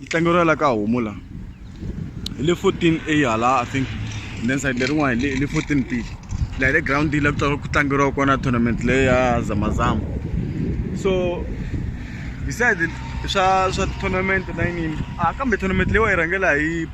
yi tlangeriwa la ka homu la hi le 14 a hala i think and then side lerin'wana hi le 14 b la hi le ground la ku tlangeriwa kona tournament leyi ya zamazama so beside swa swa tournament na yiniyini a kambe tournament leyi wa yi rhangela hi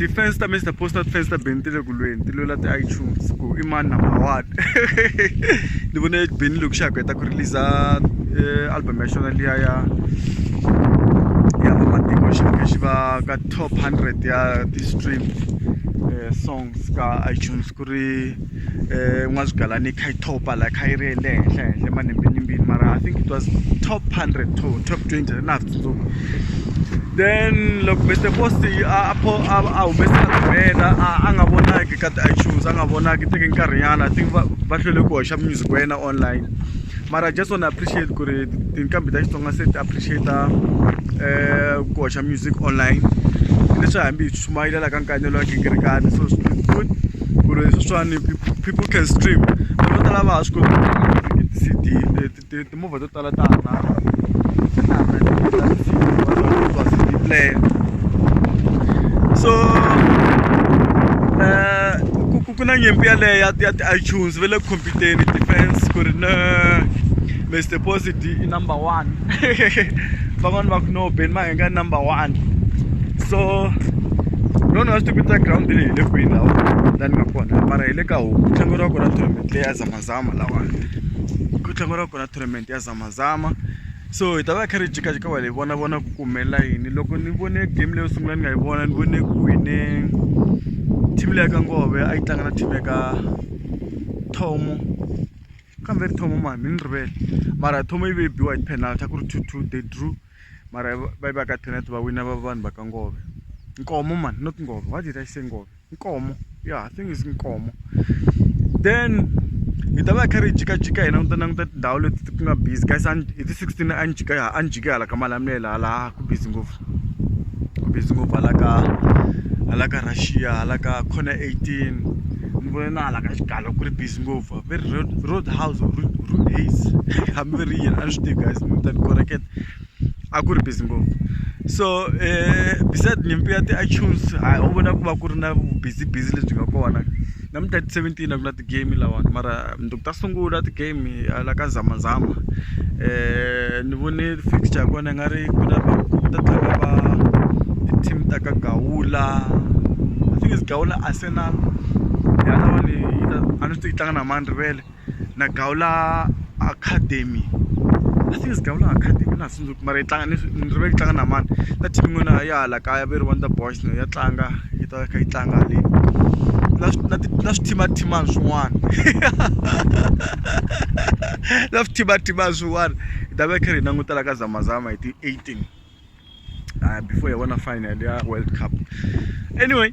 ti-fans ta mr poster ti-fans ta beni ti le ku lweni ti lwela ti-itunes ku i mani number one ni vone beni loko xa ha ku heta ku release eh, album ya xona liya ya ya vamatiko xi faneke xi va ka top 100 ya ti-stream eh, songs ka itunes ku ri eh, n'wazigalani yi kha yi topa la kha yi ri le henhla henhla emanembenimbini mara i think it was top 100 to top 20 na swi tsundzuki then loko mr post a humesa rhumela a nga vonaki ka ti-itunes a nga vonaki teke nkarhinyana i think va hlwele ku hoxa music wa yena online mara just wanna appreciate ku ri tinqambi ta xitsonga se ti appreciate um ku hoxa ka music online leswi hambi hi chumayela la ka nkanelo wa gingirikani so swi good ku ri sweswiwani people can stream vanhu vo tala va ha swi koti ti-cd timovha to tala ta hanana player so eh, ku na nyimpi yaleyo ya ti-itunes va le ku khompyuteni defense ku ri na Mr Posi D i number one van'wani va ku no Ben Mahenga i number one so lona a swi tivita ground leyi hi le kwihi lawa la ni nga kona mara hi le ka homu tlangeriwa kona tournament leyi ya zamazama lawani ku tlangeriwa kona tournament ya zamazama so hi ta va kha ri jikajika va hi vona vona ku kumela yini loko ni vone game leyo sungula ni nga yi vona ni vone ku wine team leya ka ngove a yi tlanga na team ya ka thomo kambe ri thoma mani mi ni rivele mara thoma yi ve yi biwa hi ti-penalty a ku ri two two they drew mara va yi va ka penalty va wina va vanhu va ka ngove nkomo mani not ngove why did i say ngove nkomo yeah i think is nkomo then hi ta va hi kha ri jikajika hina ni ta languta tindhawu leti ku nga busy guys hi ti sixteen a ni jika a ni jike hala ka malamela hala ku busy ngopfu ku busy ngopfu hala ka hala ka Russia hala ka corner eighteen ni vone na hala ka xigalo ku ri busy ngopfu va ri road road house or road haze hambi va ri yini a ni swi tivi guys mi ta ni koreketa a ku ri busy ngopfu so um beside nyimpi ya ti-itunes a wu vona ku va ku ri na busy busy lebyi nga kona na mi thirty seventeen a ku na ti-game lawani mara . ta sungula ti-game hala ka zamazama ni vone fixture ya kona nga ri ku ta tlanga va ti-team ta ka gawula i think is gawula arsenal yalawa ni a ni swi yi tlanga na mani rivele na gawula academy i think is gawula academy na . mara yi tlanga ni ni rivele ku tlanga na mani na team yin'wana ya hala kaya va ri Wonder Boys na ya tlanga yi ta kha yi tlanga le na na na swithimathimani swin'wana na swithimathimani swin'wana hi ta va hi karhi hi langutela ka zamazama hi ti-eighteen before hi vona final ya world cup anyway.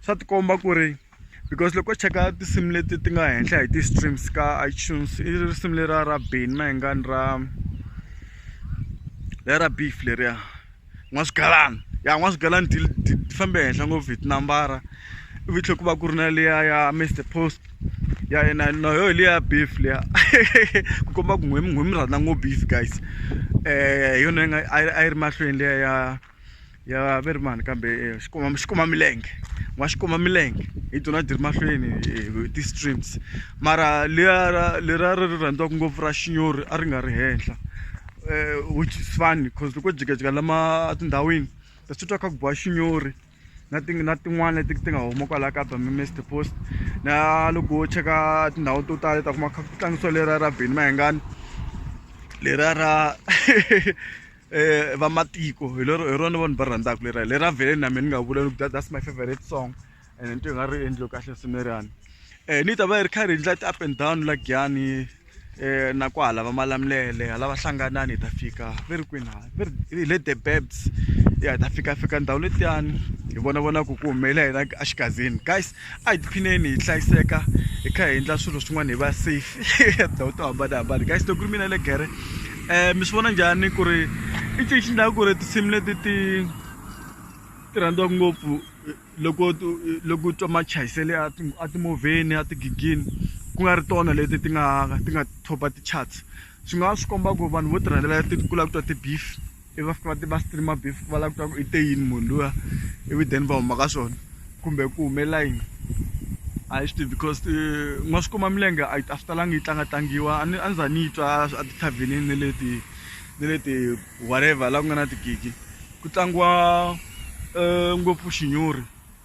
swa tikomba ku ri because loko u cheka tinsimu leti ti nga henhla hi ti-streams ka itunes i risimu leriya ra beni mayengani ra lera beef leriya n'waswigalani ya n'waswigalani ti fambe henhla ngopfu hi tinambara ivi tlhela ku va ku ri na liya ya mister post ya yena na yoho hi liya beef liya ku komba ku n'wina n'wina mi rhandza ngopfu beef guys um hi yona yi nga a yi ri mahlweni liya ya ya ve ri mani kambe eh, xikuma xikuma milenge wa xikuma milenge hi tona ti ri mahlweni eh, ti-streams mara lera lera ri rhandziwaka ngopfu ra xinyori a ri nga ri henhla um which is funny because loko jikajika lama tindhawini ta swi twa kha ku biwa xinyori na ti na tin'wana leti ti nga huma kwalaha ka bamimester post na loko wo cheka tindhawu to tala ta kuma kha ku tlangisiwa lera ra beni mahengani lera ra eh vamatiko hi lero hi rona vanhu va rhandzaka lera lera vele na mina ni nga vula loko that's my favorite song and nto yi nga ri endliwe kahle sineriyani um eh, ni ta va yi ri karhi hi ndla ti-up and down la giyani um eh, na ku hala va malamulele hala va hlanganani hi ta fika ve ri kwini hala ve ri le the babs ya hi ta fika fika ndhawu letiyani hi vona vona ku ku humelela hina axigazini guys a hi tiphineni hi hlayiseka hi kha hi endla swilo swin'wana hi va safe tindhawu to hambanahambana guys loko ku ri mina le gere um mi swi vona njhani ku ri i cinci xi ndlaka ku ri tinsimu leti ti ti rhandziwaka ngopfu loko loko u twa machayisele a ti a timovheni a tigigini ku nga ri tona leti ti nga ti nga top-a ti-charts swi nga swi komba ku vanhu vo ti rhandzela ti kula ku twa ti-beef. i va fika va ti va stream beef va lava ku twa ku i te yini munhu luya ivi then va huma ka swona kumbe ku humelela yini a hi swi tivi because n'wa swi kuma milenge a a swi talanga yi tlanga tlangiwa a ni a ni za ni yi twa a tithavhenini ni le ti ni le ti whatever laha ku nga na tigigi ku tlangiwa ngopfu xinyori.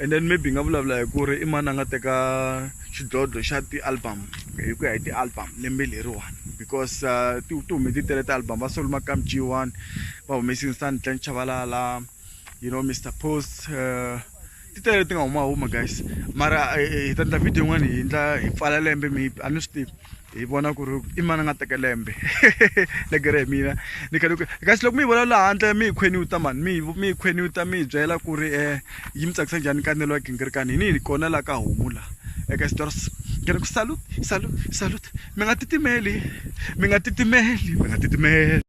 and then maybe hi nga vulavula hi ku ri i mani a nga teka xidlodlo xa ti-album hi ku ya hi ti-album lembe leriwani because uh, ti hume ti tele ti-album va soluma kamjiwani va humesi instant clan chavalala you know mr post uh, ti tele ti nga humahuma guys mara eh, eh, hi ta endla video yin'wana hi endla hi pfala lembe maybe a ni swi tivi hi vona ku ri i mani a nga teka lembe legere hi mina ni khale kasi loko mi yi vona laha handle mi yi khweniwuta mani mi mi yi khweniwuta mi yi byela ku ri um yi mi tsakisa njhani kanelo wa gingirikani hi ni hi kona laha ka homu laha eka stors ngena ku salut salut salut mi nga titimeli mi nga titimeli mi nga titimeli